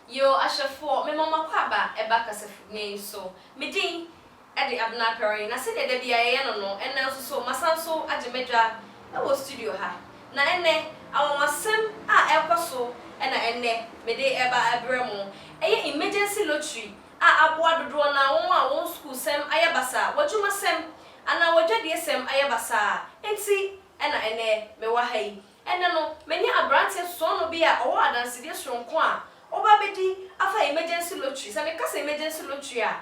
Yo, ahwɛfoɔ, mema mo akwaaba ba kasafidie so. Me din de Abena Aperin, na sɛdeɛ da biara yɛyɛ no no, ɛnnɛ nso so, masan nso agye m'adwa wɔ studio ha. Na ɛnnɛ, anwanwasɛm a ɛrekɔ so na ɛnnɛ mede reba rebrɛ mo. Ɛyɛ emergency lottery a aboa dodoɔ no ara wɔn a wɔn sukuusɛm ayɛ basaa, w'adwumasɛm, anaa w'adwadie sɛm ayɛ basaa nti na ɛnnɛ mewɔ ha yi. Ɛnnɛ no, manya aberanteɛ sɔɔnɔ bi a ɔwɔ adansedie soronko a ɔba abɛdi afa emergency lottery. Sɛ meka sɛ emergency lottery a,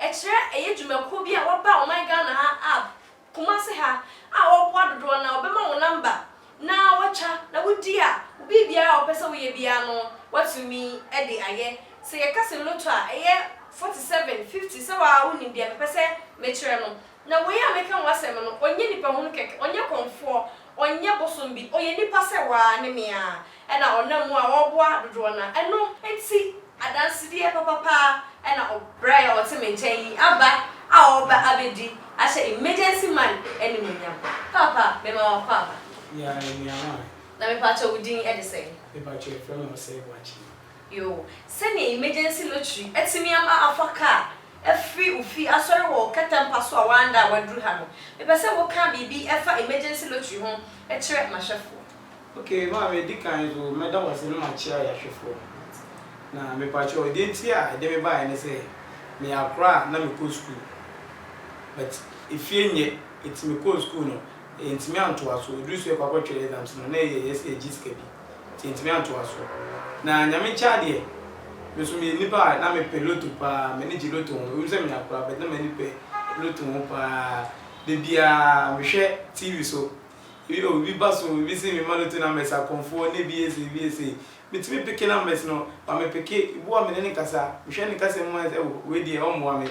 ɛkyerɛ ɛyɛ dwumakuo bi a wɔaba ɔman Ghana ha a, Kumasi ha, a wɔboa dodoɔ no ara, wɔbɛma wo number na woatwa na wodi a, biribiara a wopɛ sɛ woyɛ biara no, woatumi de ayɛ. Sɛ yɛka sɛ lotto a, ɛyɛ forty seven, fifty, sɛ wo ara wonim deɛ mepɛ sɛ mekyerɛ no. Na wei a meka ho asɛm no, ɔnyɛ nipahunu kɛkɛ, ɔnyɛ kɔmfoɔ, Ɔnyɛ bosom bi, ɔyɛ nipa sɛ wo ara ne me ara, ɛna ɔnam mu a ɔreboa dodoɔ no ara, ɛno nti adansedeɛ papa paa na ɔbrɛ yɛn a ɔte me nkyɛn yi aba a ɔreba abɛdi ahyɛ Emergency Man animuonyam. Paapa, mema w'akɔ aba. Yea, anuaman. Na mepaakyɛw wo din de sɛn? Mepaakyɛw yɛfrɛ me Osei Boakyii. Yoo, sɛnea emergency lottery atumi ama afa car afiri wo fie asɔre wɔ wo kɛtɛ mpa so a woanda a woaduru ha no, mepɛ sɛ woka biribi fa emergency lottery ho kyerɛ m'ahwɛfoɔ. Ok, maame, di kan nso mɛda wo ase na makyea yɛn ahwɛfoɔ. Na mepakyɛw, deɛ nti a ɛde me baeɛ ne sɛ, meyɛ akora a na mekɔ sukuu, but efie nyɛ, enti mekɔɔ sukuu no, yɛantumi antoa so, ɛduru sɛ yɛkɔ akɔtwerɛ exams no, na ɛyɛ yɛ sɛ yɛgye sika bi. Yɛntumi antoa so. Na Nyame nkyɛn adeɛ, me nso meyɛ nipa a na mepɛ lotto paa, m'ani gye lotto ho. Ɛwom sɛ menya koraa, but na m'ani pɛ lotto ho paa. Da biara mehwɛ TV so, ebi oh, ebi ba so, ebi se memma lotto numbers akɔmfoɔ, na ebi yɛ sei, ebi yɛ sei. Metumi peke numbers no, but mepeke, ebi wɔ a me ne no kasa, mehwɛ ne kasamu a, oh, wei deɛ ɔmmoa me.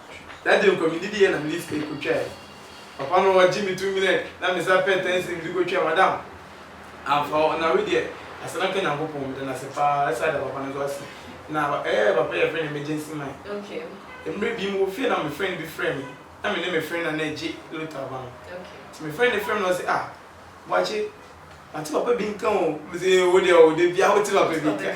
na gye nkwa me didie na me de sika kɔtwaeɛ. Papa no ɔgye me to mine na me san pɛ ten cedis de kɔtwaa madam. Amfa hɔ na wei deɛ asɛ na nka Nyankopɔn meda no ase paa ɛsan ada papa no nso ase na ɛɛ papa yi yɛfrɛ no emergency man. Mmerɛ bi mewɔ fie na me friend bi frɛ me na me ne me friend no na ɛgye lota aba no nti me friend no frɛ me na ɔse ah Boakye mate papa bi nka o mese wo deɛ o dabiaa wote papa bi nka.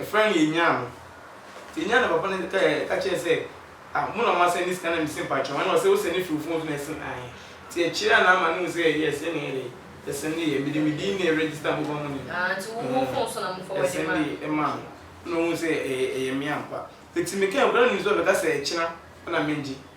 Ɛfrɛ no yɛnyaa no. Nti yɛnyaa no papa no kae ka kyerɛɛ sɛ ah mo na mo asɛne sika na me se mpakyɛw ɛna ɔse wo sɛne firi wo phone so na ɛse ae nti ɛkyereɛ a na ama no hu sɛ yes ɛne ɛdɛn ɛsendeɛ mede me din ne register mobile money no Ah nti wo wo phone so na mo forward de maa no. ɛsendeɛ maa no ɛna ohuu sɛ ɛyɛ ɛyɛ me ampa nti me kae obiara nim sɛ ɔbɛka sɛ ɛkyena ɛna mengye.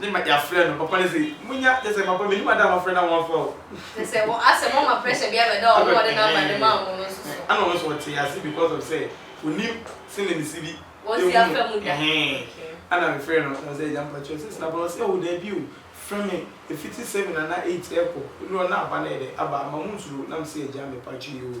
Ne ma yafrɛ no papa no se munya kyɛ sɛ papa menim ada a wafrɛ no a wamfa o. Kyɛ sɛ wɔ asɛm ɔma pressure bi abɛda ɔno a ɔde number no maa mo no nso so. Ɛna ɔno nso ɔtee ase because of sɛ onim sɛnea ne si bi wɔsi afa mu da ɛna me frɛ no na ɔse agya mpakyɛw sɛ sena ba ɔse oh daabi o frɛ me ɛfiti seven anaa eight ɛkɔ ɛduru hɔ na aba no yɛ dɛ aba ama mo nsuro na mese agya mepakyɛw oo.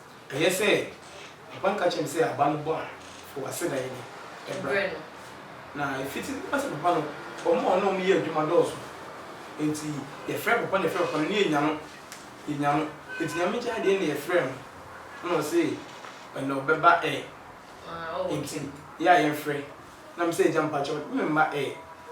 Ɛyɛ sɛ papa no ka kyerɛɛ me sɛ aba no bɔ a, fo w'aseda yi de brɛ no. Na efiti na ɔsɛ papa no, wɔn a ɔne wɔn yɛ adwuma dɔɔso. Enti yɛfrɛ papa no, yɛfrɛ papa no, na yɛnya no, yɛnya no. Enti Nyame gya adeɛ na yɛfrɛɛ no, ɛna ɔse ɛnɛ ɔbɛba ɛ. Enti yɛ a yɛmfrɛ, Na me sɛ agya mpakyɛw ne me mma ɛ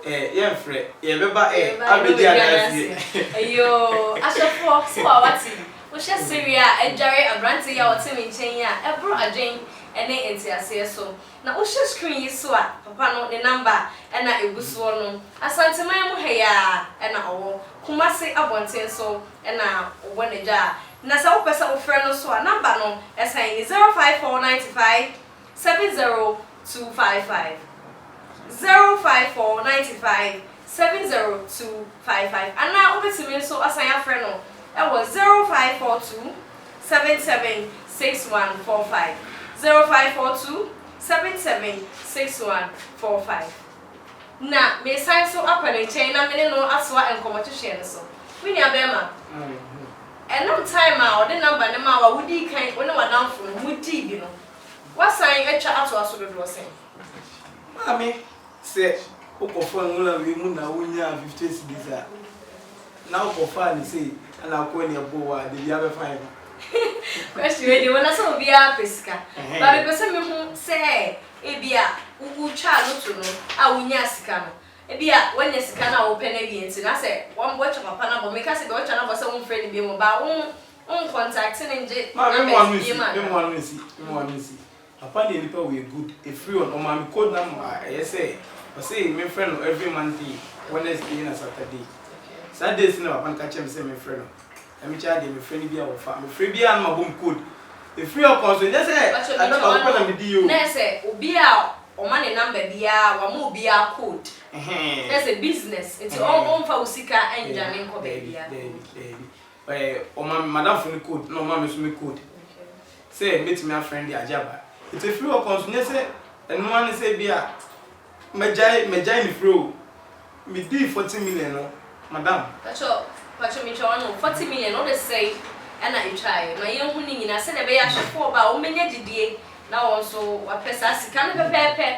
ɛ yɛnfrɛ yɛbɛba ɛ abɛdi adanseɛ. Eyoo ahyɛfoɔ so wa wate wohwɛ sereɛ a adware aberanteɛ yi a ɔte me nkyɛn yi a ɛboro adwen ne nteaseɛ so na wohwɛ screen yi so a papa no ne number na ɛgu soɔ no Asanteman mu ha yi ara na ɔwɔ Kumasi abɔnten so na ɔbɔ n'adwa na sɛ wopɛ sɛ wofrɛ no so a number no ɛsan ni 054925. seven zero two five five zero five four ninety five seven zero two five five anaa wobɛtumi nso asan afrɛ no wɔ zero five four two seven seven six one four five zero five four two seven seven six one four five na meresan nso akɔ ne nkyɛn na me ne no atoa nkɔmmɔ twetweɛ no so me nua bɛrima ɛnam time a ɔde number no maa wo a wodii kan wo ne w'adamfo no modii bi no Woasan atwa atoa so dodoɔ sɛn? Maame, Sɛ wokɔfaa nwura wei mu na wonyaa fifty cedis a, na wokɔfaa no sei na wokɔɛ na ɛbɔɔ wo a, da biara bɛfa yɛ ma. Question wei deɛ wɔ na sɛ obiara pɛ sika but mepɛ sɛ mehu sɛ ebi a wotwaa loto no a wonyaa sika no ebi a woanya sika no a wopɛ no awie nti na sɛ wɔn wɔatwa papa no abɔ meka sɛ deɛ wɔatwa no abɔ sɛ womfrɛ no biom baa wo Wo nkontakte no ngye numbers biem anaa? Mema no nsi, mema no nsi, Papa ne nipa wei yɛ good, ɛfiri wɔn, ɔmaa me code number a ɛyɛ sɛ ɔse memfrɛ no every Monday, Wednesday ɛna Saturday, saa days no na papa no ka kyerɛ me sɛ memfrɛ no, ɛme kyɛa deɛ mefrɛ no biaa ɔmfa, mefrɛ biaa na mabɔ me code, ɛfiri ɔkɔ nso nyɛ sɛ ada baako pɛ na medi oo. Nɛ sɛ obi a ɔma ne number biaa wama obiaa code, nɛ sɛ business nti ɔmfa wo sika ndwane nkɔ baabiaa oo. Daabi, daabi, daabi, Ɛɛ ɔmaa me madamfo no code na ɔmaa me nso me code sɛ mɛtumi afrɛ no de agye aba. Nti ɛfiri hɔ kɔ nso nyɛ sɛ ɛno ara ne sɛ ebia mɛgyae mɛgyae ne frɛ o. Medii forty million no madam. Pacho pacho metwa wano forty million no wode sɛn ɛna etwaeɛ ma yɛnhu ne nyinaa sɛdeɛ ɛbɛyɛ ahwɛfoɔ ba a wɔn bɛnya gyidie na wɔn nso wapɛ saa sika no pɛpɛɛpɛ.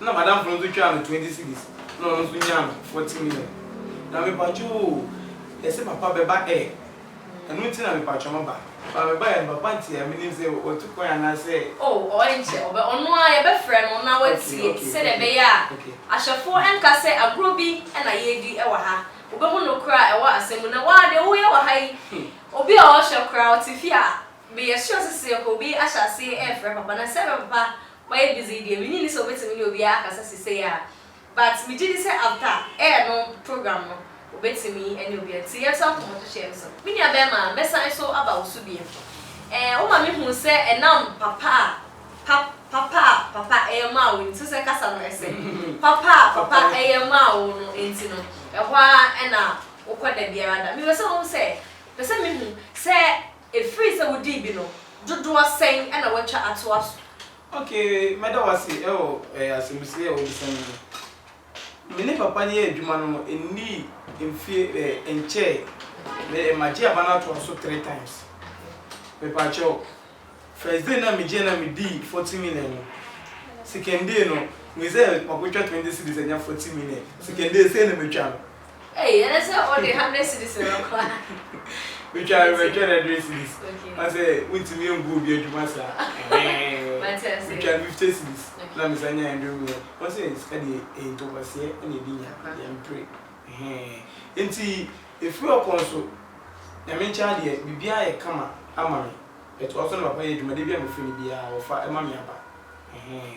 Nna madamfo no so twaa no twenty cedis na ɔno so nyaa no forty million na mepakyɛw oo yɛse papa bɛba ɛ ɛno nti na mepakyɛw maba ba mebaeɛ no papa nteɛ menim sɛ watu kwan anaasɛ. Oh ɔɔ ɛnkyɛ ɔbɛ ɔno ara yɛbɛfrɛ no na watie sɛdeɛ ɛbɛyɛ a ahyɛfoɔ ɛnka sɛ agorɔ bi na yɛredi wɔ ha wobɛhu nokorɛ a ɛwɔ asɛm mu na woaa deɛ woyɛ wɔ ha yi obi a ɔhwɛ koraa ɔte fie a meyɛ sure sɛ sɛ obi ahyɛ aseɛ ɛrefrɛ papa na sɛ ɛbɛ papa Ɔyɛ busy deɛ, menye nni sɛ obetumi ne obiara akasa sisei a, but megye di sɛ after air no program no, obetumi ne obiara, nti yɛnto nkɔmmɔto hyɛ yɛn so. Me nua bɛɛma, mɛsan so aba wo so bio. Ɛɛ, woma me hu sɛ ɛnam papa a pa, papa a papa yɛ maa wo nti, wosɛ kasa no ɛsɛ, papa a papa yɛ maa wo no nti no, ɛhɔ ara na wokɔ da biara da. Mepɛ sɛ wohu sɛ, pɛ sɛ mehu sɛ Ɛfiri sɛ wodii bi no, dodoɔ sɛn na wɔatwa atoa so? Ok, mɛda wo ase wɔ asɛmmusie a wobisa me no ho. Me ne papa no yɛɛ adwuma no ɛnnii mfeɛ ɛɛ nkyɛɛ me magye aba no atoa so three times. Mepaakyɛw, first day no a megyeɛ no a medii forty million no, second day no, mehu sɛ makɔtwa twenty cedis anya forty million. Second day sei na matwa no. Ei ɛnɛ sɛ ɔde hundred cedis na ɛbɛkɔ a. Metwa no mɛtwa no hundred cedis. Okay. Woahu sɛ wontumi ɛmboa obi adwuma saa. Mate aseɛ. Metwa no fifty cedis na mesan nya hundred mu ɛ. Woahu sɛ sika deɛ ɛyɛ ntokwaseɛ na ɛde nya. Ampa. Yɛmpere. Ɛhɛɛn. Nti ɛfiri ɔkɔn so Nyame nkyɛn deɛ biribiara ayɛ kama ama me. But ɔso ne papa yɛ adwuma, da biara mefrɛ no biara ɔfa ɛma me aba. Ɛhɛɛn.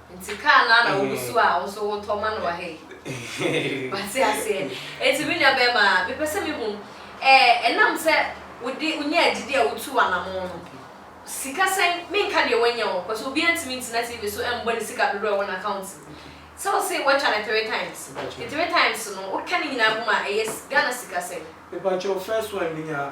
Nti car no ara na wogu so a wo nso wotɔ ma no wɔ ha yi. Wate aseɛ? Enti me nua barima, mepɛ sɛ mehu, ɛɛ, ɛnam sɛ wode, wonyaa gyidie a wotuu anamɔn no, sika sɛn, menka deɛ woanya o, cause obiara ntumi ntena TV so mmɔ ne sika dodoɔ a ɛwɔ n'account mu. Sɛ wose woatwa no three times, nti three times no, woka ne nyinaa bom a, ɛyɛ Ghana sika sɛn? Mepa kyɛw, first one menyaa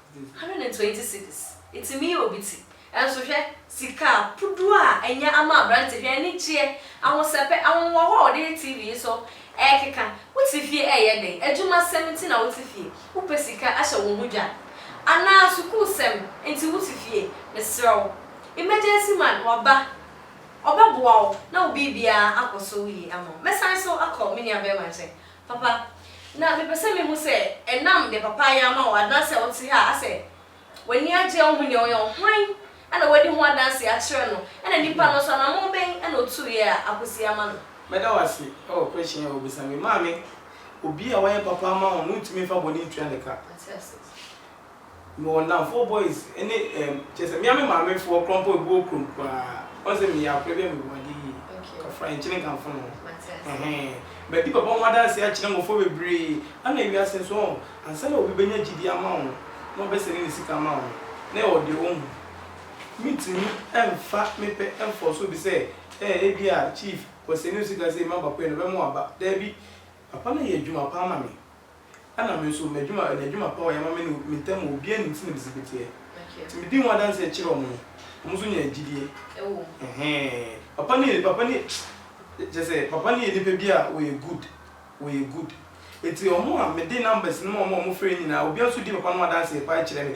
Hundred and twenty cedis, etumi yɛ obi ti. Nanso hwɛ, sika puduo a anya ama aberante, hwɛ anigyeɛ, ahosɛpɛ, ahohoahoa a ɔde yɛ TV yi so rekeka. Wote fie reyɛ dɛn? Adwumasɛm nti na wote fie? Wopɛ sika ahyɛ wo ho dwa? Anaa sukuusɛm nti wote fie? Mesrɛ wo, emergency man, waba, ɔbɛboa wo na wo biribiara akɔ so yie ama wo. Mɛsan so akɔ me nuabarima nkyɛn. Papa, na mepɛ sɛ mehu sɛ ɛnam deɛ Papa ayɛ ama wo anaasɛ a wote ha a asɛ w'ani agye a wohu deɛ ɔyɛ no, hwan na wadi ho adanseɛ akyerɛ no, ɛna nnipa no nso anammɔn bɛn na ɔtuiɛ a akɔsi ama no? Mɛda wo ase wɔ question a wobisa me. Maame, obi a wayɛ papa ama wo no wontumi mfa bɔne ntua ne ka. Mate ase. Mewɔ nnamfoɔ boys ne ɛɛm kyerɛ sɛ me ara me maamefoɔ kora mpo ebi wɔ kurom koraa wɔn sɛ meyɛ akora bi a mewɔ adeɛ yie kafra nkyene nkamfo no ɛhɛn madi papa ho adanseɛ akyerɛ mmɔfra bebree ɛna wiase nso ɔɔ ansa na obi bɛnya gyidie ama wo no na ɔbɛsɛne ne sika ama wo no na ɛwɔ deɛ ɔhu mentumi ɛmfa me pɛ ɛmfɔɔso obi sɛ ɛɛ ebi a chief wɔsɛne wo sika sei ma bakoe no ɔbɛma wo aba daabi papa no yɛ adwuma paa ma me Ɛna me nso m'adwuma ɛyɛ adwuma pa wɔyɛ ma me ne me ntam wɔ obiara nim sɛdeɛ mesi bɛteɛ nti medi ho adanseɛ kyerɛ wɔn no wɔn nso nya gyidie ɛhɛɛɛ papa no yɛ papa no yɛ kyerɛ sɛ papa no yɛ nipa bi a ɔyɛ good ɔyɛ good nti wɔn a mede numbers no ma wɔn a wɔfrɛ nyinaa obiara nso di papa no ho adanseɛ paa kyerɛ me.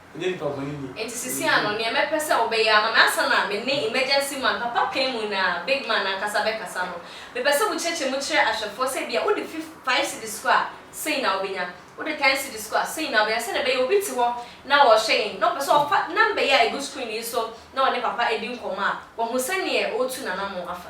Ɛnyɛ nnipa bɔne ni. Enti sisi ano, nea mɛpɛ sɛ wobɛyɛ ama me ansa na me ne Emergency Man, Papa Pɛn mu na Big Man ankasa bɛkasa no, mepɛ sɛ wokyerɛkyerɛ mu kyerɛ ahwɛfoɔ sɛ ebia wode fif five cedis kɔ a, sei na wobɛnya, wode ten cedis kɔ a, sei na wobɛnya, sɛdeɛ ɛbɛyɛ obi te hɔ na ɔrehwɛ yɛn, na ɔpɛ sɛ ɔfa number yi a ɛgu screen yi so na ɔne Papa di nkɔmmɔ a, wahu sɛdeɛ ɔretu n'anammɔn afa.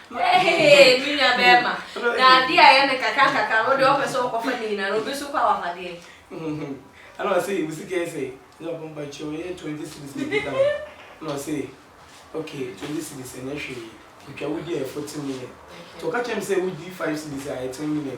Ɛhee me nua bɛɛma na adeɛ a yɛ no kakra nkakra no deɛ ɔpɛ sɛ ɔkɔfa ne nyina no obi so kɔ awapadeɛ. Ɛna ɔsee wo sika yɛ sɛi na ɔpɛ mpakyɛw yɛ 20 cedis na ɛdi kan na ɔsee ok 20 cedis ɛnyɛ hwee metwa wodi a ɛyɛ 40 million nti ɔka kyerɛ me sɛ wodi 5 cedis a ɛyɛ 10 million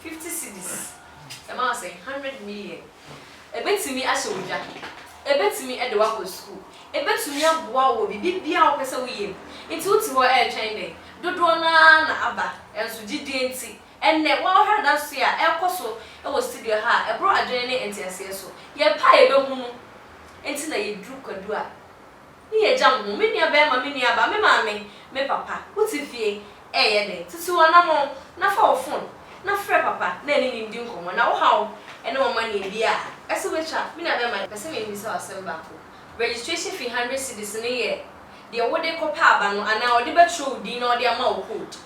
Fifty cedis, ɛma wo sɛn? Hundred million. Ɛbɛtumi ahyɛ wo dwa, ɛbɛtumi de wo akɔ sukuu, ɛbɛtumi aboa wo wɔ biribiara a wopɛ sɛ woyɛ mu. Nti wo te hɔ ɛretwɛn dɛn? Dodoɔ no ara na aba, nso gyidie nti, ɛnnɛ wohwɛ adanseɛ a ɛrekɔ so wɔ studio ha a, ɛboro adwene ne nteaseɛ so. Yɛpɛ a yɛbɛhunu nti na yɛduru kwadu a Ne yɛ gya mo ho, me nua bɛɛma, me nua ba, me maame, me papa, wo te fie, ɛɛyɛ dɛn? Tutu anamɔn, na fa wo fon, na frɛ papa, na ɛne no ndi nkɔmɔ, na wo haw ɛne wɔn ma nea bi a ɛsɛ wo twa. Me nua bɛɛma, yɛ pɛ sɛ me bisa wo asɛm baako, registration fee hundred cedis no yɛ deɛ wo de kɔ pɛ aba no, anaa ɔde bɛ twerɛ wo din na ɔde ama wo code?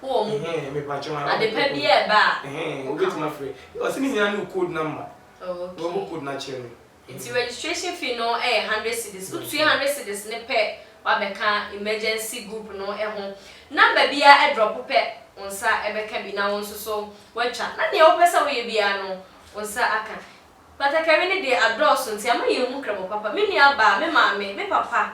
Wo wɔ mu bi? Ɛhɛn, mepakyɛw ara Ade pa bi a ɛba a, Ɛhɛn, wo ka wobɛtumi ho. afrɛ. Ɔse ne nyinaa ne wo code number. Oh, okay. Wobɛbɔ code no akyerɛ me. Nti registration fee no yɛ hundred cedis. Wo tua hundred cedis no pɛ, wabɛka emergency group no ho. Number biara ɛdrɔpo pɛ, wo nsa ɛbɛka bi na wo nso so woatwa. Na nea wopɛ sɛ woyɛ biara no, wo nsa aka. Batakari no deɛ adɔɔso nti ama yɛn hu krɛbɔ papa. Me nua baa, me maame, me papa,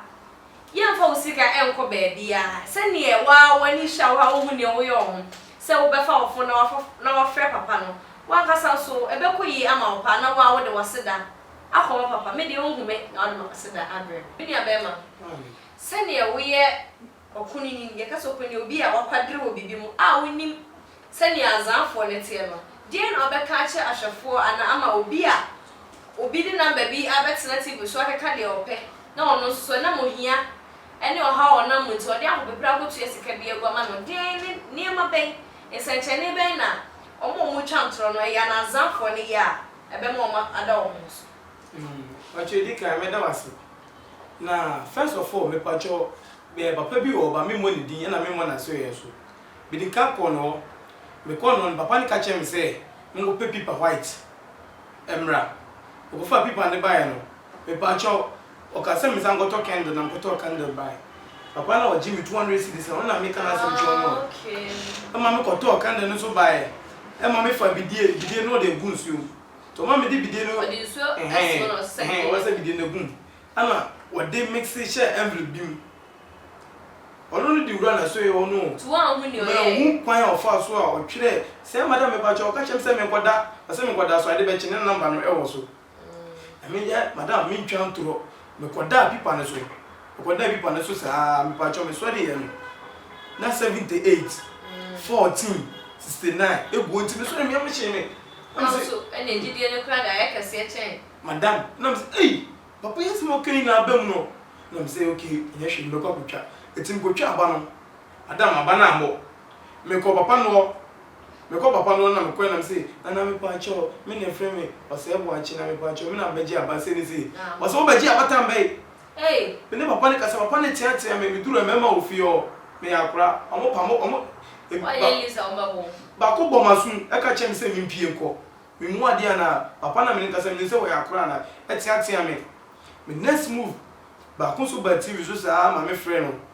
yɛn nfa wo sika nkɔ baabiaa, sɛ neɛ wo ara w'ani hwɛ a wo ara wo hu neɛ wo yɛ wɔ ho, sɛ wo bɛfa wo fon na wa frɛ papa no, wo ankasa nso ɛbɛkɔ yie ama wo paa na wo ara wo de w'aseda akɔ ma papa. Me deɛ wo nhu me na wo de m'aseda abrɛ me. Me nua bɛɛma, sɛ neɛ wo yɛ Ɔkunini, yɛka sɛ ɔkunini, obi a wakwadare wɔ biribi mu a ɔnnim sɛnea azaafoɔ no teɛ no, deɛn na ɔbɛka akyerɛ ahwɛfoɔ anaa ama obi a obi de namba bi abɛtena TV so akeka deɛ ɔpɛ na ɔno nso so ɛnam ohia ne ɔhaw a ɔnam mu nti ɔde ahopeprɛ akɔtua sika bi agu ama no? Deɛn ne nneɛma bɛn, nsɛnkyerɛnne bɛn na wɔn a wɔretwa ntorɔ no yɛ anaa azaafoɔ no yɛ a ɛbɛma wɔn ada wɔn ho so? Ɔtwerɛ, Di kan, meda wo ase. Na first of all mepakyɛw eh papa bi wɔ hɔ ba memmɔ ne din ɛna memmɔ n'asoɛeɛ nso. Mede car kɔɔ ne hɔ, mekɔɔ ne hɔ no papa no ka kyerɛɛ me sɛ menkɔpɛ pipa white mmra. Mekɔfaa pipa no de baeɛ no, mepakyɛw ɔkaa sɛ mensan nkɔtɔ candle na mekɔtɔɔ candle bae. Papa no a ɔgyee me two hundred cedis no ɔno na meka no asɛm kyerɛ wo no o. Ɛma mekɔtɔɔ candle no nso baeɛ, ɛma mefaa bidie, bidie no ɔde agu nsuo mu. Toma mede bidie no Wɔde nsuo ɛhɛn ɛso na wɔsesa ɛhɛn bidie no wɔsesa gu mu. bidie no agu mu ɛna wɔde mixe hyɛ envelope bi mu ɔno no de wura nasoɛ hɔ no o Nti woanhu nea ɔyɛɛ? Manhu kwan a ɔfaa so a ɔtwerɛɛ sɛ madam mepakyɛw ɔka kyerɛɛ me sɛ menkɔda ɔsɛ menkɔda so ade bɛkye ne number no ɛwɔ so na meyɛ madam mentwa ntorɔ Mekɔdaa pipa no so, mekɔdaa pipa no so saa ara, mepakyɛw mesɔreeɛ no na seventy eight, fourteen, sixty nine ɛguo nti mesɔreeɛ no yam hyee me na me se. Nanso ɛnneɛ gyidie no koraa de ayɛ kɛseɛ kyɛn. Madam na me se ei papa yi asɛm a ɔka nyinaa aba mu no na me se okay nyɛ hwee mɛkɔ akɔtwa, ɛti mekɔtwaa aba no madam aba no ammɔ, mekɔɔ papa no hɔ Mekɔ papa no hɔ na mekɔɛ na mese Nana mepaakyɛw me na efrɛ me Ɔsɛɛ Boakye na mepaakyɛw me na mebɛgye aba sei ne sei. Ɔse wo bɛgye abatan bɛn? Me ne papa no kasa papa no tea tea me meduru mɛma wɔ fie hɔ meyɛ akora ɔmo pa mo ɔmo baako bɔ maso mu ɛka kyerɛ me sɛ me mpie nkɔ me mua adeɛ anaa papa na me ne kasa menim sɛ wɔyɛ akora anaa ɛtea tea me me next move baako nso baa TV so saa maame frɛ no.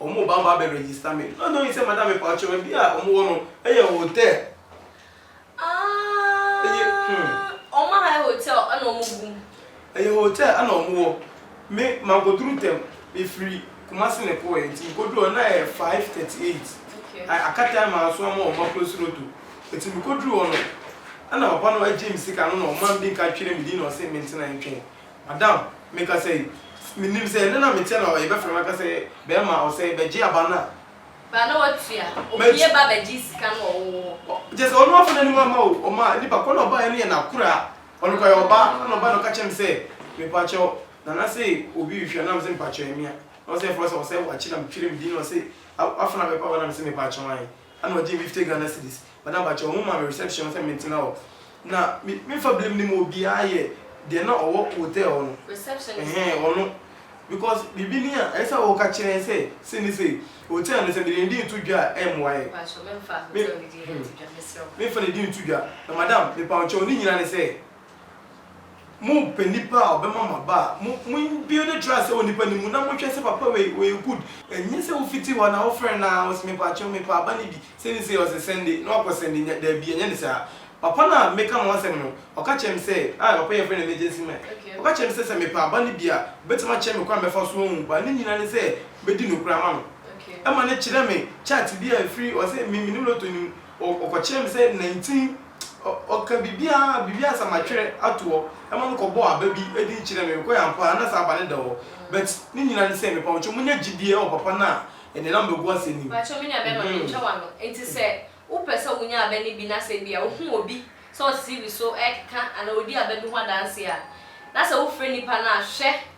ɔmo ba ba bɛ register me na ɔno sɛ madam mepaw kyɛw baabi a ɔmo wɔ no ɛyɛ hotel ɛyɛ hmm. Ɔmo aha yɛ hotel ɛna ɔmo gu mu. Ɛyɛ hotel ɛna ɔmo wɔ me manko duru tɛm me firi kumasi na ɛkɔ yɛ nti mekɔ duru hɔ na ɛyɛ five thirty eight aka time a nso ama ɔmo akɔsi roto ɛti mekɔ duru hɔ no ɛna papa no ɛgye me sika no na ɔma me bi nka twere me din na ɔsɛ mentena ntwɛn. Adam, me ka sɛ, Me nim sɛ, ɛnnɛ na me teɛ na ɔyɛ bɛfrɛ me aka sɛ, Bɛɛma a ɔsɛe, bɛgye aba no a. Ba na watua, opue ba bɛgye sika no wɔ wo hɔ. Kyerɛ sɛ, ɔno afa n'anim amma o, ɔma nipa koro na ɔbaeɛ no yɛ n'akoraa, ɔno kora yɛ ɔbaa, ɛna ɔbaeɛ na ɔka kyerɛ me sɛ, Mepakyɛw, Nana se obi rehwɛ na me se, Mepakyɛw ɛyɛ me a, na ɔse ɛfrɛ wo sɛ ɔsɛe wakye na me twere me din na ɔse afena bɛpa wo na me se, Mepakyɛw ae, ɛna ɔgyee me fifty Ghana cedis. Madam pakyɛw mo ma me reception hɔ sɛ mentena hɔ na me me fa binom no mu obiara yɛ deɛ na ɔwɔ hotel hɔ no Receptionist no. Ɛhɛn ɔno because biribi ni a ɛsɛ sɛ woka kyerɛ yɛn sɛ sei ne sei. Hotel no sɛ mede ne din reto dwa a ɛmmoa yɛn. Pakyɛw memfa Me hotel ne din hmm nto dwa meserɛ wo. memfa ne din nto dwa na madam mepaw kyɛw ne nyinaa ne sɛ Mompɛ nipa a ɔbɛma mo aba a mo mo build trust wɔ nipa no mu na mohwɛ sɛ papa wei ɔyɛ good ɛnyɛ sɛ wofiti hɔ na wofrɛ no a ɔse mepakyɛw mepɛ aba no bi sɛ ne sei ɔse sɛnde na wakɔ sɛnde nya daabi ɛnyɛ ne saa papa no a meka mo asɛm no ɔka kyerɛ me sɛ ah papa yi yɛfrɛ no emergency man ɔka kyerɛ me sɛ sɛ mepɛ aba no bi a ɔbɛtumi akyerɛ me kwan mɛfa so ahu but ne nyinaa ne sɛ mɛdi nokorɛ ama no ɛma no kyerɛ me chart bi a ɛfiri ɔse me menim lotto no mu Ɔkɔkyerɛɛ me sɛ nantin ɔka biribiara, biribiara sɛ matwerɛ ato hɔ. Ɛma me kɔbɔɔ aba bi din kyerɛɛ me. Mekɔeɛ ampa ara, na saa aba no da hɔ. But ne nyinaa ne sɛ, mepa mo kyɛw, monya gyidie wɔ Papa no a ɛnenam bɛgu ase no mu. Pakyɛw me nua bɛrima mentwa w'ano. Enti sɛ wo pɛ sɛ wo nya aba no bi na sɛ ebia wo hu obi sɛ ɔte TV so ɛɛkeka anaa ɔdi aba bi ho adanseɛ a, na sɛ wo frɛ nipa no a, hwɛ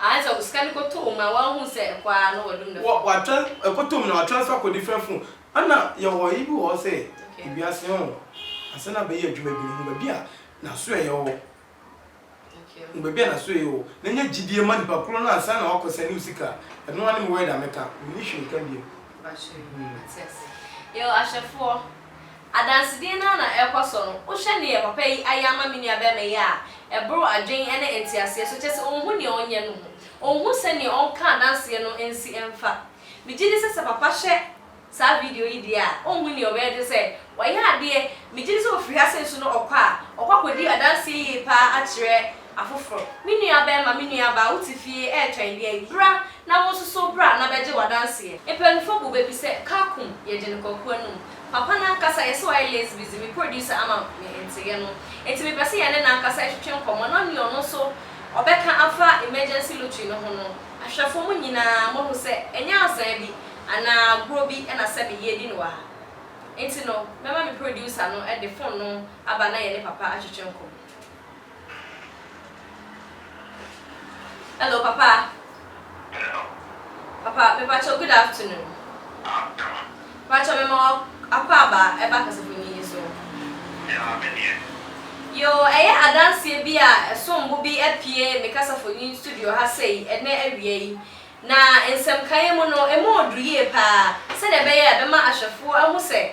Ae sɛ osika no kɔtɔ mu a wanhu sɛ ɛkɔ ara na wadum ne fon. Watwa ɛkɔtɔ mu na watransfer akɔ different fon. Ɛna yɛwɔ ayi bi wɔ hɔ sɛ ewiase hɔ no ansa na bɛyɛ adwuma bi no hu baabi a n'asoɛeɛ wɔ hɔ. Hu baabi a n'asoɛeɛ wɔ hɔ na nya gyidie ma nipa korɔ no ansa na wakɔ sɛne wo sika. Ɛno ara ne me word a mɛka. Menni hwee nka bio. Mpakyɛw, mate ase. Yɛwɔ ahwɛfoɔ. Adansedie no ara na ɛrekɔ so no, wohwɛ neɛ papa yi ayɛ ama me nua barima yi a, ɛboro adwen ne nteaseɛ so, kyerɛ sɛ ɔnhu neɛ ɔnyɛ no mu. Ɔnhu sɛdeɛ ɔnka adanseɛ no nsi mfa. Me gyedi sɛ sɛ papa hwɛ saa video yi deɛ a, ɔnhu neɛ ɔbɛyɛ gye sɛ wayɛ adeɛ. Me gyedi sɛ ɔfiri ha sei nso no ɔkɔ a, ɔkɔ akɔdi adanseɛ yie pa ara akyerɛ afoforɔ. Me nua barima, me nua baa, wote fie retwɛn deɛ ayi, bra na wo nso so bra na bɛgye wo adanseɛ. Mpanyinfoɔ bɔ bɛ bi sɛ, Kakum, yɛgye no kwaku anum. Papa no ankasa yɛ sɛ ɔyɛ Lazy Busy, me producer ama me nteeɛ no. Enti mepɛ sɛ yɛne no ankasa ɛtwetwe nkɔmmɔ na nea ɔno nso ɔbɛka afa Emergency Lottery no ho no. Ahwɛfoɔ mo nyinaa moahu sɛ ɛnyɛ azaa bi anaa agorɔ bi na sɛbe yɛredi no wɔ ha. Enti no mɛma me producer no de phone no aba na yɛne Papa atwetwe nkɔmmɔ. Hello papa. Hello. Papa me pacho good afternoon. Afternoon. Pacho me ma akɔ aba ɛba kasafo ni yi so. Ya me deɛ. Yo ɛyɛ adanseɛ bi a ɛsom bo bi apue me kasafo ni studio ha sei ɛnɛ awia yi. Na nsɛm kaeɛ mu no emu oduru yie paa sɛdeɛ ɛbɛyɛ a ɛbɛma ahwɛfoɔ ahu sɛ.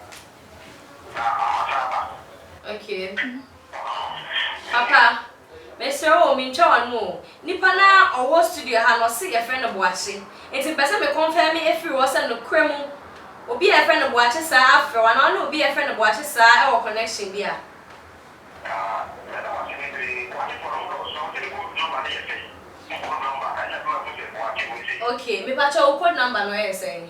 Okay. Papa, mesrɛ wo o, mentwa w'ano o, nipa no a ɔwɔ studio ha no ɔse yɛfrɛ no Boakye, nti mepɛ sɛ me kɔnfɛme ɛfiri hɔ sɛ nokorɛ mu obi a yɛfrɛ no Boakye saa afrɛ wo anaa wone obi a yɛfrɛ no Boakye saa ɛwɔ connection bi a. Okay, mepakyɛw wo code number no ɛyɛ sɛn?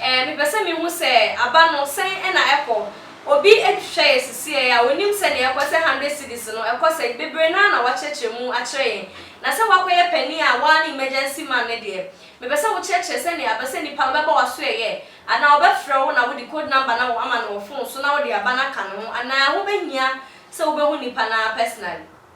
Eh, mepɛ sɛ mehu sɛ aba no, sɛn na ɛkɔ? Obi hwehwɛ yɛ sesieɛ a, ɔnim sɛdeɛ ɛkɔ, sɛ hundred cedis no, ɛkɔ sɛ, bebree no ara na wɔakyerɛkyerɛ mu akyerɛ yɛn. Na sɛ woakɔyɛ panin a, wo ara ne emergency man no deɛ, mepɛ sɛ wokyerɛkyerɛ sɛdeɛ aba, sɛ nipa no bɛbɔ w'asoɛeɛ, anaa ɔbɛfrɛ wo na wode code number no ama no wɔ fon so na wode aba no aka ne ho, anaa wobɛhia sɛ wobɛhu nipa no ara personally.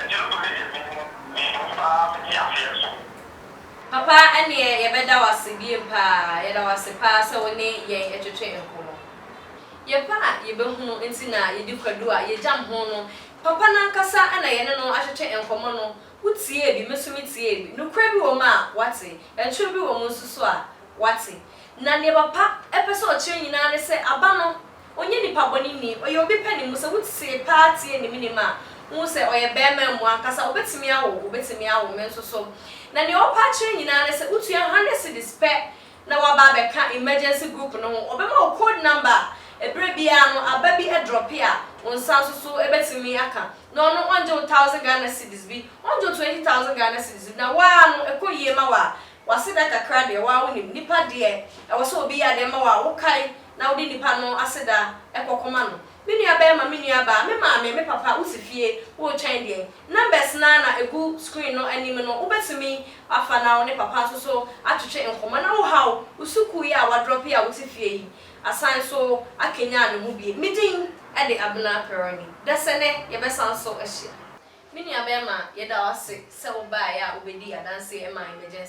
Akyidifo no yɛ me me dom paa me te aseɛ so. Papa ɛneɛ yɛbɛda wo ase biem paa yɛda wo ase paa sɛ wo ne yɛn ɛtwetwe nkɔmɔ yɛpɛ a yɛbɛhunu nti na yɛdi kwadu a yɛgyam ho no papa no ankasa na yɛne no atwetwe nkɔmɔ no wo tiee bi me nso me tiee bi nokorɛ bi wɔ mu a wate ɛntwerɛ bi wɔ mu nso so a wate na neɛ papa ɛpɛ sɛ ɔkyerɛ nyinaa ne sɛ aba no Ɔnyɛ nipa bɔne nni, ɔyɛ obi pɛ ne mu. Sɛ wotee paa tie ne menem a, wohu sɛ ɔyɛ barima amu ankasa. Ɔbɛtumi awo wo, ɔbɛtumi awo me nso so. Na nea ɔpɛ akyerɛ nyinaa ne sɛ wotua hundred cedis pɛ na waba abɛka emergency group no ho. Ɔbɛma wo code number a ɛberɛ biara no aba bi drɔpe a wo nsa nso so bɛtumi aka. Na ɔno ɔngye wo thousand Ghana cedis bi, ɔngye wo twenty thousand Ghana cedis bi. Na wo ara no ɛkɔ yie ma wo a, w'aseda kakra deɛ wo ara wonim. Nipa deɛ ɛwɔ sɛ obi yɛ adeɛ ma wo a wokae na wode nipa no aseda kɔ kɔma no. Me nua bɛɛma, me nua baa, me maame, me papa, wo si fie, wo retwɛn deɛn? Numbers no ara na ɛgu screen no anim no wo bɛtumi afa na wo ne papa nso so atwetwe nkɔmɔ na wo haw wo sukuu yi a wa drop yi a wo te fie yi asan so akanyan ne ho biem. Me din de Abena Peroni. Dasɛnɛ yɛ bɛ san so ahyia. Me nua bɛɛma, yɛ da wo ase sɛ wo baaɛ a wo bɛ dii adanseɛ maa emergency.